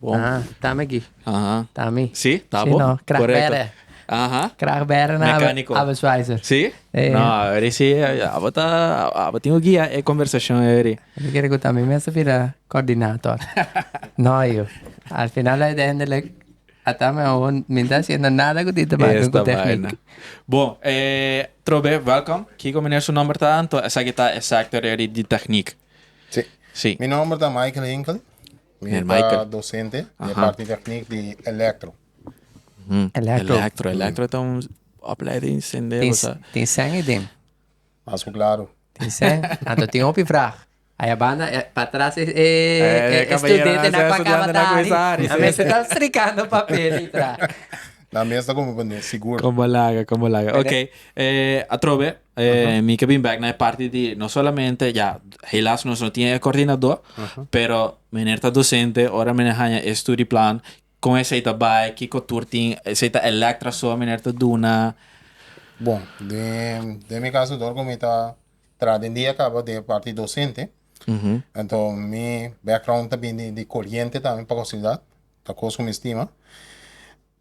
Bon. Ah, ta mi aki. Aha. Ta mi. Si, ta bo. Si no, krag bere. Aha. Krag bere na abo. Mekaniko. Abo swizer. Si? E. No, eri si, abo ta, abo tin ku guia e konversashon eri. Mi kere ku ta mi mes ta bira kòrdinator. No yu. Al final uiteindelik a ta mi abo mi no ta hasiendo nada ku tin te make ku tèknik. Bon, e trobe wèlkòm. Kiko manera su nòmber ta? Esaki ta e sector eri di tèknik. Si. Si. Mi nòmber ta Michael Hinkel. Mi ta docente den parti techniek di electro. Electro, electro ta un opleiding sende cosa. Tin sèn ei den? Mas ku klaro. Tin sèn? Anto tin hopi vrag. Aya banda pa tras e studente nan ku a kaba ta hari. Nan mester ta strikando papel ei tra. Nan mes ta komo bende sigur. Komo laga, komo laga. Oke, atrobe. Eh, mi ke bin bek na e parti di no solamente ya helas nos no tin e kordinadó, pero meneer ta dosente ora meneer haña e studieplan kon esei ta bai, kiko tur tin, esei ta electra so meneer ta duna. Bon, den den mi kaso dor ku mi ta traha den dia kaba den e parti dosente, anto mi background ta bini di koriente tambe pa kosidat, ta kos ku mi stima.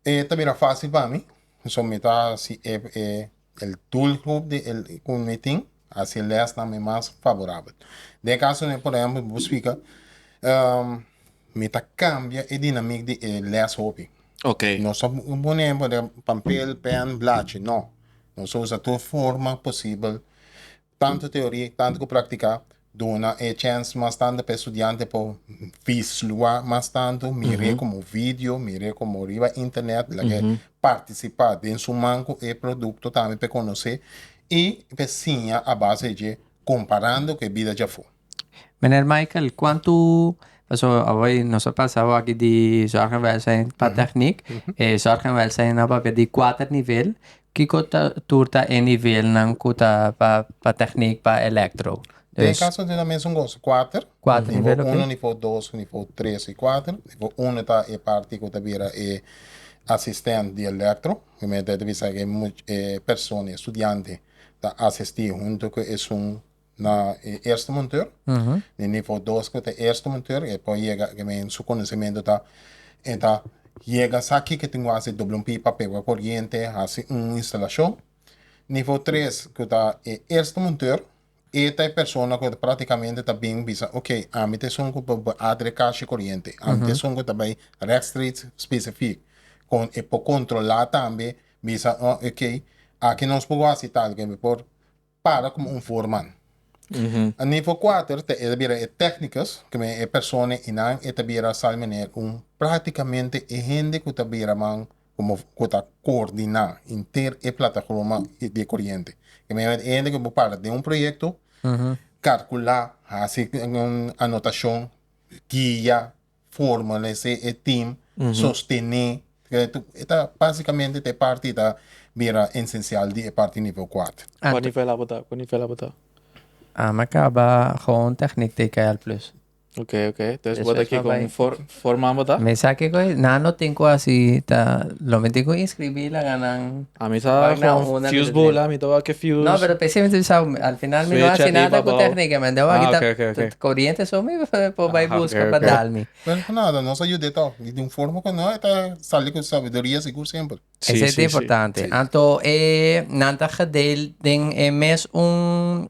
E ta bira fásil pa mi, so mi ta hasi e e El doelgroep di e ku mi tin hasi e lèsnan mi mas faborabel. Den e kaso den, por ehèmpel, mi por splika, mi ta kambia e dinamik di e lès hopi. Nos ta pone papel, pèn, blachi, no. Nos ta usa tur forma posibel. Tantu teoria y tantu cu practica duna e chens mas tande pa e studiante pa vislua mas tantu, mire como video, mire como riba internet, lagu'e participa den suman cu e producto tambe p'e conoce y p'e siña a base di dje comparando cu e bida djafo. Meneer Michael, kuantu, pasobra awor nos a pasa awor di zorg en welsijn pa techniek, e zorg en welsijn awor di kuater nivel, kiko tur ta e nivelnan ku ta pa pa techniek, pa electro? Den e kaso dela mesun gozo, kuater, nivo uno, nivo dos, nivo tres i kuater, nivo uno ta e parti ku ta bira e asistent di electro, primer ta bisa e persona, e studiante ta asisti huntu ku esun na e eerste monteur, den nivo dos cu ta e eerste monteur e por yega cu men su conocimento ta e ta yega sa kico tin cu haci e doble un pipa pe wor corriente haci un instalacion, nivo tres cu ta e eerste monteur e ta e persona cu practicamente ta bini bisa ok ami ta esun cu por bay adre cashi y corriente ami ta esun cu ta bay rechtstreeks specifiek con e por controla tambe bisa oh ok aki nos por wor haci tal cu mi por para komo un foreman. A nivo kuater ta e ta bira e technicus, ku men e persona i nan e ta bira sa meneer un praktikamente e hende ku ta bira man komo ku ta koordiná henter e plataforma di e koriente. Ke men e hende ku por parta den un proyekto, karkulá, hasi un anotashon, guia, formalesé e team, sostené, e ta básikamente ta e parti ta bira esensial di e parti nivel kuater. Kua nivel abo ta? Kua nivel abo ta? Ami a kaba Gewoon Techniek TKL Plus. Ok, ok. Entonces bo ta kiko un for, forman bo ta? Mi sa kiko es, nan lo tin ku hasi ta, lo mi tin ku inskribí laga nan. Ami sa con fuse bula mi ta wak e fuse. No pero p'esei mi ta bisa bo al final mi no hasi nada cu tecnicamente wak y ta coriente so mi por bay busca pa dal mi. Pero nada nos a yud'e ta di un forma cu no e ta sali cu sabiduria sigur semper. Esey ta importante anto e nan ta gedeel den e mes un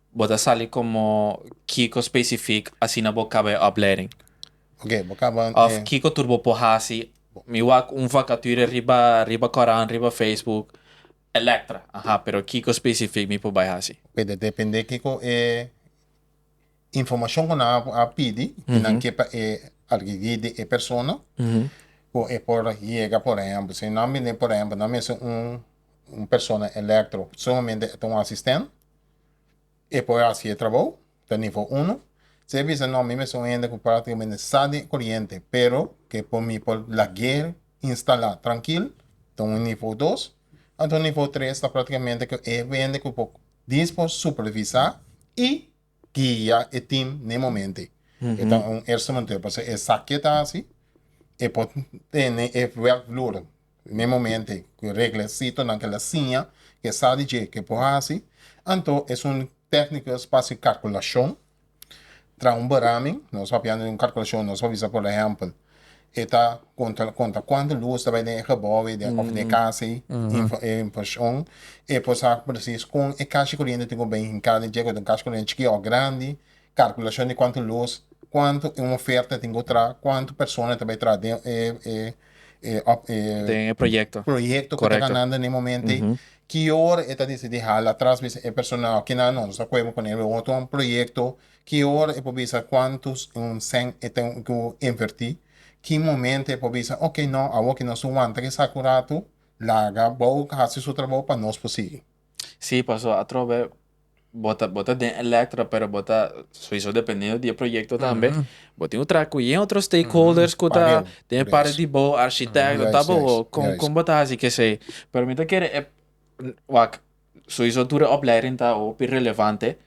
Bo ta sali como kico specific asina bo caba e oplering? Ok, bo caba e. Of kico tur bo por haci? Mi wak un vacature riba riba corant, riba Facebook, electra, aha, pero kico specific mi por bay haci? Ok, ta depende kico e informacion cu nan a a pidi y nan ke pa e argigi di e persona cu e por yega, por ehemplo, si nan bini, por ehemplo, nan mester un un persona electro, sumamente e ta un asisten. e por hasi e trabou ta nivo uno, si e bisa no mi mester un hende cu practicamente sa den e coriente pero que por mi por laguer instala trankil ta un nivo dos, anto nivo tres ta practicamente cu e hende cu por dies por supervisa y guia e team n'e momente e ta un instrumenteur pasobra e sa kiet hasi e por tene e werkvloer Primer momento ei cu e reglasitonan ke la siña ke sa di dje ke por haci, anto esun técnicos pa haci calculacion traha un beramen, nos papia anto di un calculacion nos por bisa por ehempel e ta conta conta cuanto luz ta bay den e gebou ei den of den e casa ei e infraccion e por sa precies con e cashi coriente tin cu bay hinca den dje cu ta un cashi coriente chikí of grandi, calculacion di cuanto luz, cuanto un oferta tin cu traha, cuanto persona ta bay traha den e e den e proyecto proyecto cu ta ganando n'e momento ey, ki ora e ta decidi hala atras bisa e personal ki nan nos ta cuepa pone bo otro un proyecto, ki ora e por bisa cuantos en un cen e ten cu inverti, ki momento e por bisa ok no awor ki nos wanta ki sa cu rato laga bo hasi su trabajo pa nos por sigui. Si paso atrobe bo ta bo ta den elektra pero bo ta sowiso dependiendo di e proyekto tambe bo tin ku traha ku yen otro stakeholders ku ta den e parti di bo arshitekt lo ta bo kon kon bo ta hasi kesei pero mi ta kere wak sowiso tur e opleiding ta hopi relevante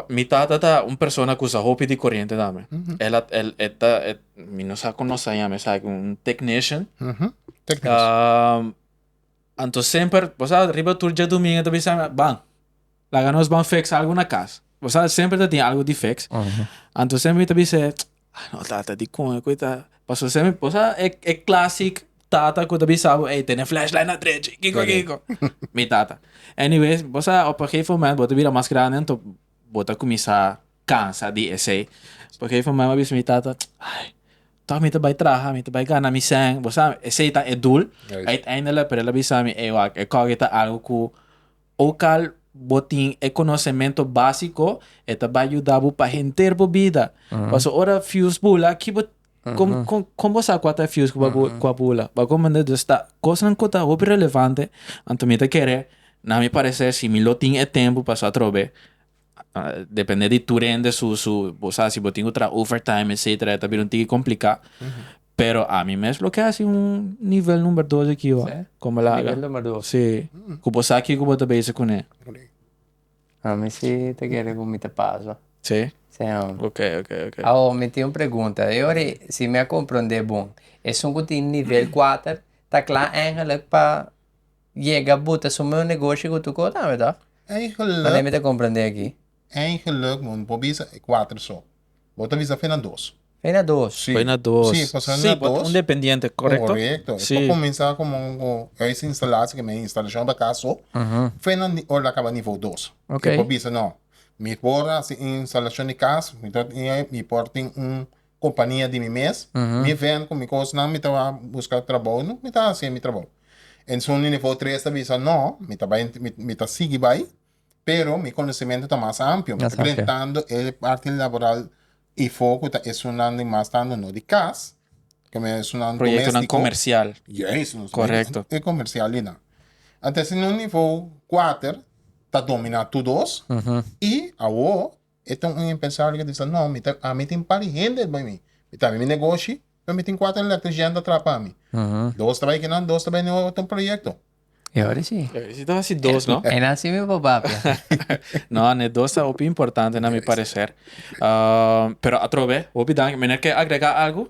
mi tata ta un persona ku sa hopi di koriente tambe el a el e ta e mi no sa kon lo sa yame esaki un technician. Anto semper bo sa riba tur djadumingu ta bisa mi, Ban, laga nos ban feks algu na kas. Bo sa semper ta tin algu di feks. Anto semper mi ta bisa e, ah no tata dikon e ku e ta. Paso semper bo sa e e klasik tata ku ta bisa bo, ey tene flèshlight na drechi, kiko kiko. Mi tata. Anyways, bo sa op e gegeven moment bo ta bira mas grandi anto bo ta kuminsá. cansa di esey por que mamá a bisa mi tata ai tok mi ta bay traha mi ta bay gana mi sèn bo sa esey ta e dul uiteindelik pero el a bisa mi ey wak e kòkey ta algo ku ook al bo tin e konosementu básiko e ta bay yuda bo pa henter bo bida pasobra ora fius bula ki bo kon kon kon bo sa kua ta e fius ku a bula bo a komo nda dus ta kosnan ku ta hopi relevante anto mi ta kere na mi pareser si mi lo tin e tempu paso atrobe. depende di tu rende su su bo sa si bo tin ku traha overtime etcetera e ta bira un tiki komplika pero ami mes lo ke hasi un nivel number dos aki ho Sí. kon bo laga Nivel number dos. si ku bo sa kiko bo ta bezig kuné Ami si ta kere ku mi ta pasa. si Sí, hombre. ok ok ok Awo, mi tin un pregunta. E ora ei, si mi a komprondé bon, esun ku tin nivel kuater ta kla eigenlijk pa Yega buta su meu negoshi ku tu kota mi tòg? Manera mi ta komprendé aki. Eigenlik no por bisa e kuater so. Bo ta bisa fe na dos. Fe na dos. Si. Fe na dos. Si, pasobra na dos. Si, un dependiente, korekto? Korekto. Si. E por kuminsá komo un huis instalatie ke mi a instalashon pa kas so. Fe na ora lo a kaba nivou dos. Ok. E por bisa, no, mi por hasi un instalashon di kas, mi por tin un kompania di mi mes, mi vènt ku mi kosnan, mi ta buska trabou, no, mi ta hasi e mi trabou. Esun di nivou tres ta bisa, no, mi ta bai, mi ta sigui bai, pero mi konosementu ta mas ampio, mi ta prende tantu e parti laboral ifo ku ta esunnan di mas tantu no di kas, ku mi esunnan domestiko, yes, nos proyektonan komersial, e komersial di nan. Antes, si un nivou kuater ta dominá tur dos, i awo. E tin un empresario ke bisa, No, mi ta, ami tin par di hende bai mi. Mi ta habri mi negoshi, pero mi tin kuater elektrician ta traha pa mi. Dos ta bai kinan, dos ta bai no otro proyekto. E oras si. E oras si ta hasi dos, no? E na si mi baba pia. No, ne dos ta hopi importante na mi pareser. Pero atrobe, hopi danki. Meneer ke agrega algu?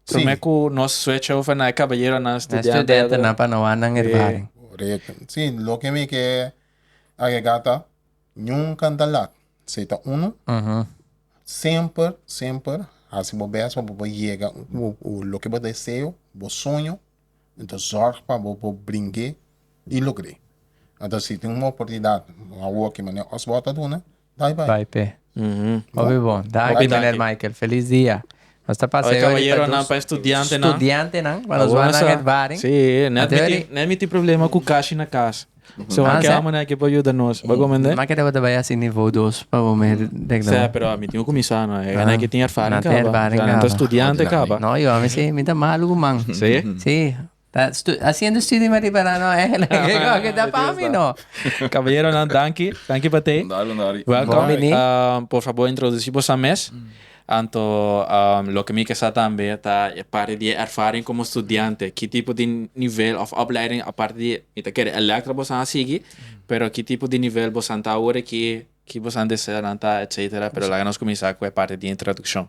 Prome ku nos switch over na e kabayeronan, studiantenan. Na e studiantenan pa no wòrdu nan ervaring. Korekto. Si, loke mi ke agrega ta. Niun kanta lat. Esei ta unu. Semper, semper hasi bo bes pa bo por yega loke bo deseo, bo soño. Entos zorg pa bo por bring'é i logr'é. Entos si tin un oportunidat awo aki manera Osborne ta duna, bai bai. Bai p'e. Hopi bon. Danki meneer Michael. Feliz dia. Nos ta pasa e ora di pa dos studiantenan pa nos wak nan e baring. Sí, net mi tin problema ku kashi na kas. So a keda manera aki por yuda nos. Bo gomende? Mi a keda bo ta bai hasi nivo dos pa bo mi dek ta bai. Sea, pero mi tin ku kuminsá no. E nan aki tin erfaring kaba. Nan ta studiante kaba. No, yo a mi si mi ta malu ku man. Sí? Sí. Ta haciendo studie mari para no eh lo que con que ta pa mi no. Caballeronan danki, danki pa tey. Dale un dale. Welcome. Welcome. Por favor introduci bosa mes. Anto loke mi ke sa tambe ta e parte di e erfaring como studiante ki tipo di nivel of opleiding aparte di mi ta kere electra bosa a sigui pero ki tipo di nivel bosa ta awor aki ki bosa desea lanta etcetera pero laga nos cuminsa cu e parte di introduccion.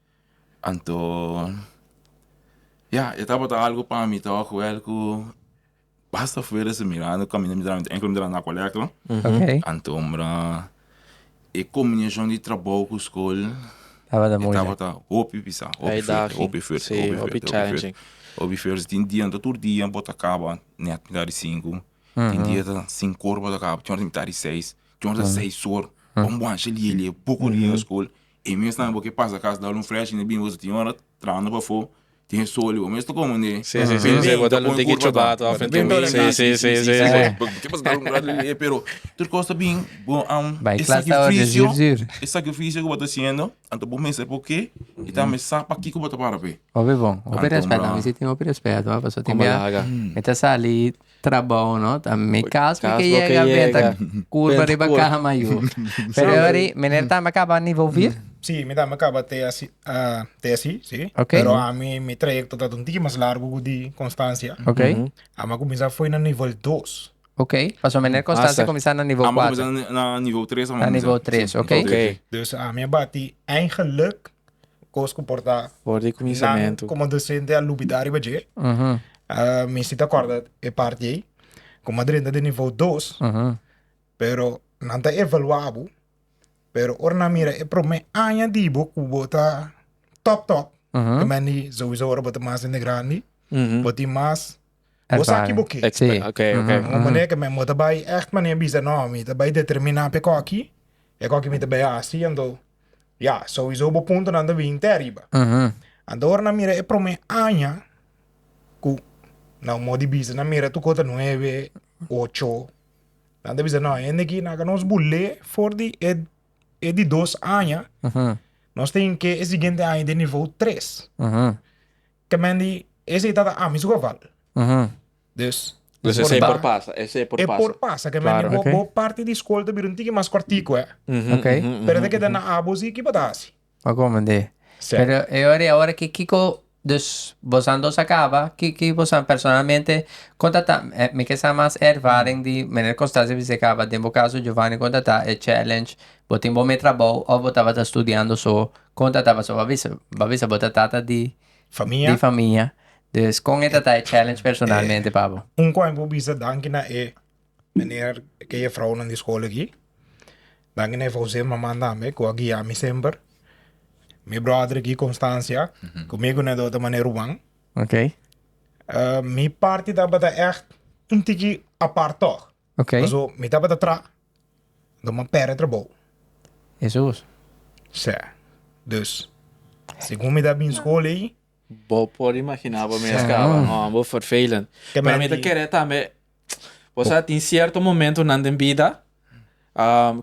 Anto ya e tabata algo pa mi to akoer ku basta fuera si mira mi kaminda mi dra enkel mi dra na koleakel anto mira e kombinashon di trabou ku skol tabata hopi pisa hopi fuerte hopi fuerte hopi fuerte hopi fuerte tin dia no ta tur dia bo ta kaba net mitad di sinku tin dia ta sinku or bo ta kaba tin ora ta mitad di seis tin ora ta seis or bo wansha lie lie buki riba skol E mes tambe bo ke pasa cas dal un fresh inde bimbo su tin ora trahando pafo tin e soli bo mes ta como inde pende bo ta con e curva ata bo ta bem dor aki si si si ke pasa dal un grato inde e pero tur cos ta been bo am e sacrificio e sacrificio cu bo ta haciendo anto bo mester por ke y tambe sa pakico bo ta para pe. Hopi bon hopi respet na mi si tin hopi respet hopi asotin bia mi ta sali. Trabou no ta mi cas mi ke yega benta curba riba caha mayor pero ahori meneer tambe a caba niveau vier? Si mi tambe a caba TSC TSC si pero ami mi trayecto ta un tiki mas largo cu di Constancia ami a cuminsa a fo'i na nivel dos pasobra meneer Constancia a cuminsa na nivel cuatro ami a cuminsa na nivel tres dus ami a bati eigenlijk kos ku por ta For di nan kuminsamentu. komo adolesente a lubidá riba dje. Mi si ta kòrda e parti ei, ku mi a drenta den nivou dos, pero nan ta evaluá bo, pero ora nan mira e promé aña di bo ku bo ta tòp tòp, ke mende souso ora bo ta mas hende grandi, bo tin mas Bo sa aki bo ke. Expe- ok, ok. Aha, aha. Mane ke men bo ta bai echt mane bisa no mi ta bai determina pe koki e koki mi ta bai hasi ento ya souiso bo puntonan ta bin te ariba. Aha. Anto ora nan mira e prome aña ku nan mo di bisa nan mira tu kota nuebe, ocho nan ta bisa no hende aki nan ka nos bul'e for di e e di dos aña Aha, nos tin ke e siguiente aña den nivou tres. aha. Te mende esei ta ta ami su geval. Dus e por ta. E por pasa ke mende bo bo parti di skol ta bira un tiki mas kòrtiku e. Pero ta keda na abo si, ki bo ta hasi? Pa kome de. Pero e ora di awor aki kiko, dus bosan dos a kaba, ki ki bosan personalmente, kon ta ta, mi ke sa mas e ervaring di manera kon sta serbisio a kaba, den bo kaso Giovani kon ta ta e challenge, bo tin bo me trabou of bo tabata studiando so, Kon ta ta paso bo a bisa bo a bisa bo ta tata di Famia. di famia dus kon e ta ta e challenge personalmente pa bo? Un kua mi por bisa danki na e meneer ke e fraunan di skol aki danki na e fouser e maman tambe ku a guia mi semper mi brother aki Constancia ku mi a guia nan e dor ta mane Ruben Okay mi parti tabata echt un tiki apart tog Okay paso mi tabata traha Lo m'a pèrdè trabou. Hesus. Sè. Dus, segun mi ta bin skol ei. Bo por imaginá bo mes kaba un òmber vervelend. Pero mi ta kere tambe, bo sa tin sierto momentonan den bida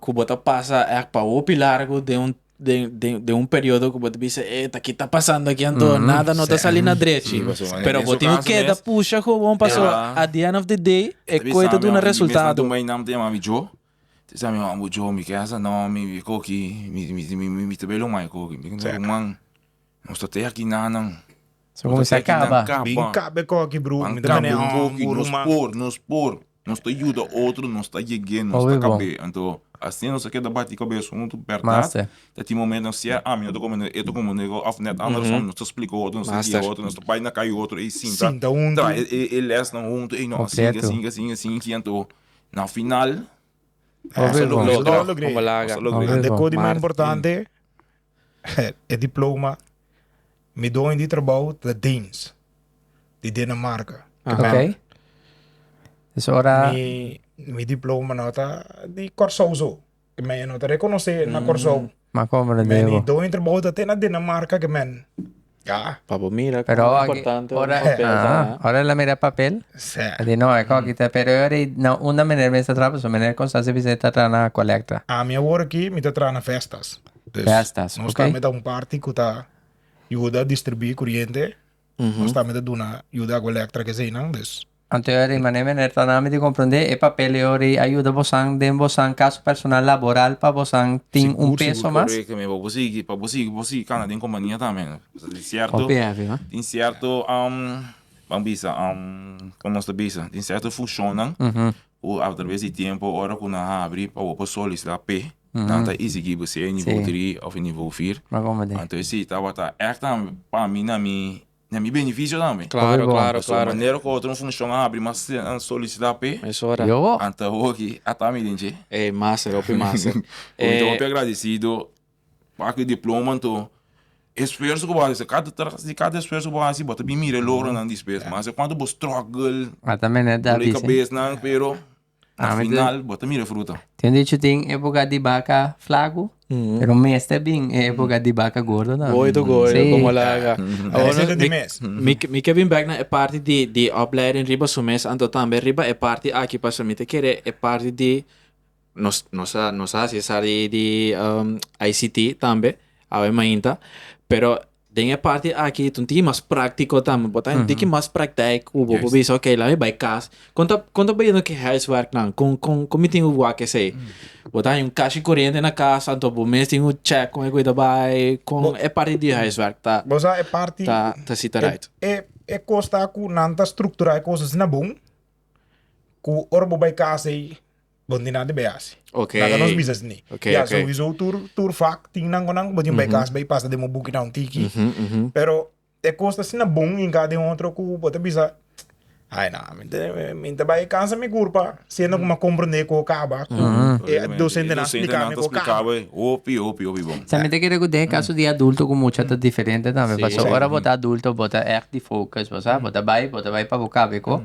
ku bo ta pasa èk pa hopi largu den un. den, den, den un periodo ku bo ta bisa, e, ta ki ta pasando aki anto? Mhm. Nada no ta Sèn. sali na drechi. Sí, pasobra en Pero bo esu tin ku kaso keda mes- pusha gewoon, paso Ja. at the end of the day, e Bisa koe ta mi duna wan, mi mes anto resultado. mei nan ta yama mi Joe. Ta bisa mi wan, bo Joe, mi kesa no, mi, mi koki, mi, mi, mi, mi, mi ta belo mai koki. Mi Sèn. ruman, nos ta te aki nannan. Su Nos ta kuminsá te aki nan kaba. Bin kaba. kaba e koki, bru. Wan Mi ta mane, kaba e oh, koki, bu nos ruman. por, nos por. Nos ta yuda otro, nos ta yeg'é, nos ta kab'é. Anto, asina nos a keda bati kabes un hopi bèrdat. Ta tin momento nan sier, ami no ta kome ne'e, ta kome ne'e òf nèt anderson. Nos ta splika otro, nos ta guia otro, nos ta bai na kai otro ei sinta, traha e lèsnan huntu, ei no asinke, asinke, asinke, asinke. Anto, na final, nos a logr'é, nos a logr'é. Ande kos di mas importante? E diploma mi doño di trabou ta Deens, di Dinamarca. Oké. Okay. Is ora Mi, mi diploma no ta di Corsou zo. Ke men e no ta rekonosé na Corsou. ma komber Men Diego. i doño di trabou ta te na Dinamarca ke men Ya. Pa bo mira Pero cuán aki, importante un ora, papel ta, ah, ah. ora el a mira papel, Sí. a di, no, e kò aki ta, pero e ora ei, na unda manera mester traha, pasobra manera Constanza bisa ei ta traha na colecta. Ami awor aki mi ta traha na festas. Dus, Festas, nos oké. tambe ta un parti cu ta yuda distribuí curiente, nos tambe ta duna, yuda hagu electra cu eseinan, dus. Anto e ori mané mané ta dami di komprondé e papel e ori a yuda bosan den bosan kaso personal laboral pa bosan tin un peso mas. Sigur sigur korekto mi pa bo sigui pa bo sigui bo sigui kana den kompania tambe pasobra tin sierto tin sierto ban bisa kon nos ta bisa tin sierto fushonnan ku atraves di tiempo ora ku nan a habri pa bo por solisitá p'e nan ta isigui bo sea nivo tri òf nivo fir anto e si tabata èk tambe pa mi na mi Na mi beneficio tambe. Claro, claro, claro. Pasobra manera cu otro un funcion a habri mas a solicita pe. Mesora. Yo bo. Anta hopi ata mi den dje. Ey, master, hopi master. Mi ta hopi agradecido pa aki diploma anto esfuerzo cu bo a haci. Cad, tras di cad esfuerzo cu bo a haci bo ta bin mira e logronan despues. Mester cuanto bo struggle. Mata mene dal dicen. Doli cabesnan pero. Na final bo ta mira fruta. Tin un dicho tin epoca di baca flaco pero mester bin e epoca di baca gordo tambe. Gooi to gooi lo como la haga. Mi ke bin bek na e parti di opleiding riba su mes anto tambe riba e parti aki pasobra mi ta kere e parti di nos nos nos a hasi sa di ICT tambe awe mainta pero Den e parti aki tin tin mas práktiko tambe. Bo ta hende ki mas praktijk ku bo por bisa oke laga mi bai kas. Kon ta kon ta bahiendo ki huiswerknan? Kon kon kon mi tin ku wak esei? Bo ta haña un kas di kuriente na kas anto bo mes tin ku chèk kon e kui ta bai kon e parti di huiswerk ta Bo sa e parti ta ta sita right. e e kos ta ku nan ta strukturá e kos asina bon ku ora bo bai kas ei Bo tin nan di bay hasi. Okay. Nan ta nos business ni. Okay, ya, okay. sowieso tur, tur vak tin nan ku nan bo tin bay kas bay pasa den bo buki na un tiki. Mhm, mhm. Pero e kos ta asina bon hinka den otro ku bo ta bisa, ay na, mi te, mi te bay kansa mi kurpa, siendo ku mi a komprende ku kaba, ku e dosentenan a splika mi ku kaba. Hopi, hopi, hopi bon. Sa mi ta kere ku den e kaso di adulto ku mucha ta diferente tambe, paso Sí. ora bo ta adulto bo ta ègt di focus, bo sa, bo ta bay, bo ta bay pa bo kaba e ko.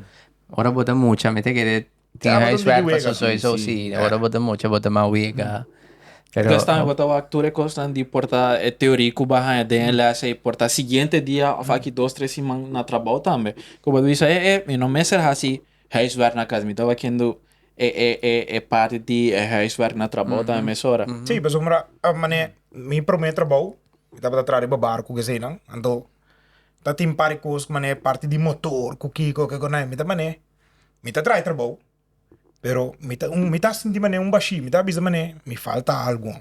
Ora bo ta mucha mi ta kere Tin Tabata un tiki huiswerk pa wega, Sosoy, so sí. si ora bo ta mucha bo ta mas wega. Pero Pues tambe bo ta wak tur e kosnan di por ta e teorí ku bo a haña den e lèse i por ta siguiente dia òf aki dos tres siman na trabou tambe ku bo ta bisa e e mi no mester hasi huiswerk na kas mi tabata hakiendo e e e e parti di e huiswerk na trabou tambe mesora. Sí, pasobra a manera mi promé trabou mi tabata traha riba barku keseinan anto ta tin par di kos ku manera parti di motor ku kiko ku kiko nan mi ta manera Mi ta traha e trabou, pero mi ta mi ta sinti manera un bashí, mi ta bisa manera mi falta algu.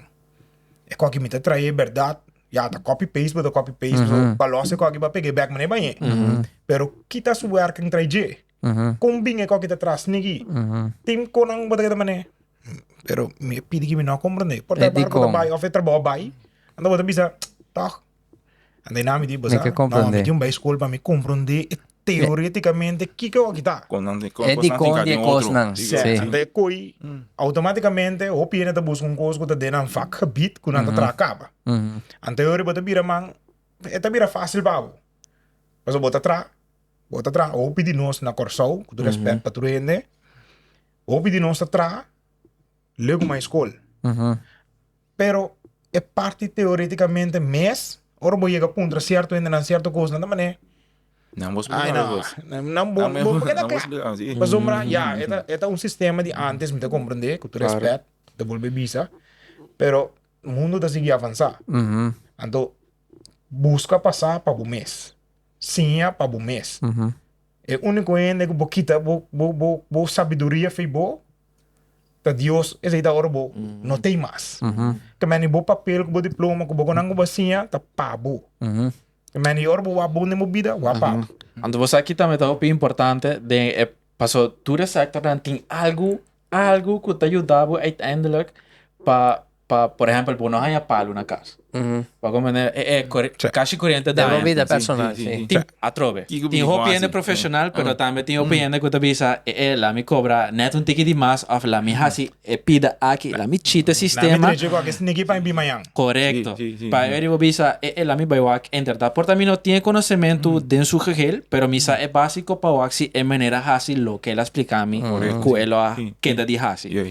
E koki mi ta traha e berdad, ya ta copy paste bo ta copy paste bo, pa lòs e koki pa pega e bek manera baña e. Pero kita su wèrkende traha dje, kon bini e koki ta traha snigi, tin kon nan bo ta keda manera pero mi a pidi ki mi no a komprondé, por ta e barku ta bai òf e trabou a bai, anda bo ta bisa, tòg Anda e nami di basa. Mi ke komprende. No, mi tin bai skol pa mi komprende teoretikamente kiko a kita. Kon nan tin kon E di kon di e kosnan. Si. Anda e koi outomatikamente hopi hende ta buska un kos ku ta den nan vakgebied ku nan ta traha kaba. Ante hori bo ta bira man e ta bira fasil pa bo. Pasobra bo ta traha, bo ta traha. Hopi di nos na Kòrsou, ku tur rèspèt pa tur hende, hopi di nos ta traha. Leuke mai skol. Pero e parti teoreticamente mes, ora bo yega puntra cierto hendenan cierto cosnan ta manera, Nan bo splica nan bo nan bo nan bo nan bo splica nan si. Pasobra ya eta eta un sistema di antes mi ta comprende cu tur respect ta bolbe bisa pero mundo ta sigui avansa anto busca pasa pa bo mes siña pa bo mes e unico hende cu bo kita bo bo bo bo sabiduria fi bo Ta Dios es ei ta ora bo no t'ei mas. Ta mani bo papel ku bo diploma ku bo gonan ku bo a siña ta pa bo. Ta mani e ora bo wak bon den bo bida, wak pa bo. Anto bo sa ki tambe ta hopi importante den e paso tur e sectornan tin algu algu ku ta yuda bo uiteindelijk pa. pa por ehempel bo no haña palu na kas bo comprende e e kashi kuriente daña den bo bida personal si tin atrobe tin hopi hende profesional pero tambe tin hopi hende ku ta bisa e e laat mi kobra net un tiki di mas of laat mi hasi e pida aki laat mi chita e sistema laat mi trechi ku aki sniki pa mi bin mañan korekto pa e bo bisa e e laat mi bai wak en verdad por ta mi no tin e konosementu den su gehel pero mi sa e básiko pa wak si e manera hasi loke el a splika mi ku el lo a kenda di hasi.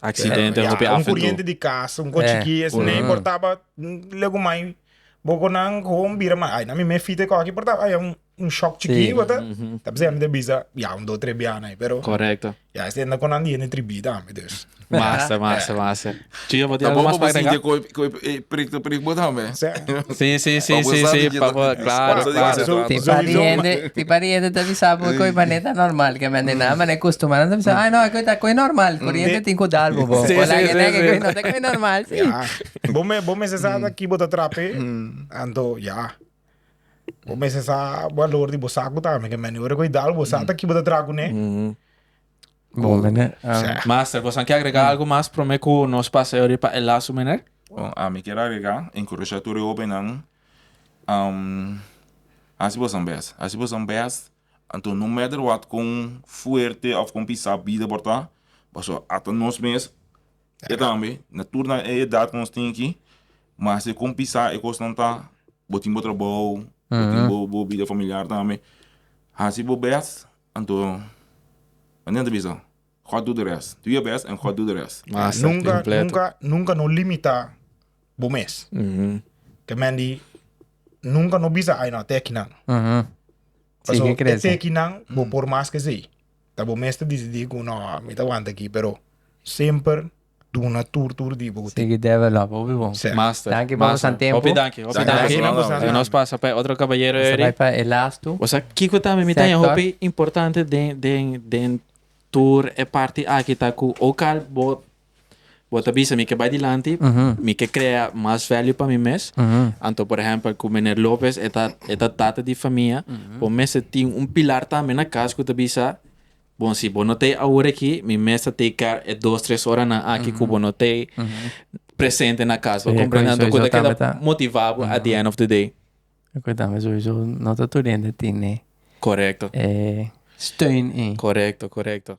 Accidente hopi af en tur. Un curiente di cas, un cochichi es mey por taba lego mai boco nan con bira mai ay nan mi mey fita coki por taba ay un shock chiki bata ta p'sei nan ta bisa ya un dos tres biaha na pero ya es tenda con nan di hende tribi tambe dus. Massa massa massa. Chio bo tin algo mas pa agregar? Cu e prik ta prik bo tambe. Sí, sí, sí, sí, sí, papá, claro, claro. Ti pariente, ti pariente ta bisa bo cu e mané ta normal, que men na mané custumado ta bisa, ay no, cu ta cu normal, curiente tin cu dal bo bo. Sí, sí, sí, sí. No ta cu normal, sí. Ya, bo me, bo me se sa ta ki bo ta trape, anto ya. Bo me se sa valor di bo sacu tambe, que men ora cu dal bo sa ta ki bo ta tracu ne. Bon meneer. Sea. Master, bosan ke agrega algu mas prome ku nos pasa yori pa e lasu meneer? Bon, ami kier agrega, enkurashá tur e hóbennan, hasi bosan bes, hasi bosan bes, anto no mèter wòt kon fuerte òf kon pisá bida por ta, pasobra ata nos mes e tambe na tur nan e edat ku nos tin aki, ma hasi kon pisá e kosnan ta, bo tin bo trabou, bo tin bo bida familiar tambe, hasi bo bes Anto Daniel ta bisa, God do the rest. Do your best and God do the rest. Masa kompleto. Nunka no limitá bo mes. Te men di nunka no bisa ayna a tekinan. Paso e tekinan bo por mas ke esei. Ta bo mes ta disidí ku no, mi ta wanta aki, pero semper. duna tur tur di bo. Sigui develop hopi bon. Sèt. Master. Danki por boso tempo. Hopi danki, hopi danki. Danki nan boso nan. Nos pasa pa e otro kabayero eri. Nos ta bai pa e last tu. Bosa kiko ta mi mi ta ña hopi importante den den den tur e parti aki ta ku ook al bo bo ta bisa mi ke bai dilanti mi ke krea mas value pa mi mes anto por ehèmpel ku Meneer Lopez e ta e ta tata di famia bo mester tin un pilar tambe na kas ku ta bisa Bon, si bo no ta e awor aki, mi mes ta take care e dos tres oranan aki ku bo no ta e presente na kas, bo komprende? Anto ku ta keda motivá bo at di end of di day. E ku tambe souso no ta tur hende tene e steun ei. Korekto, korekto.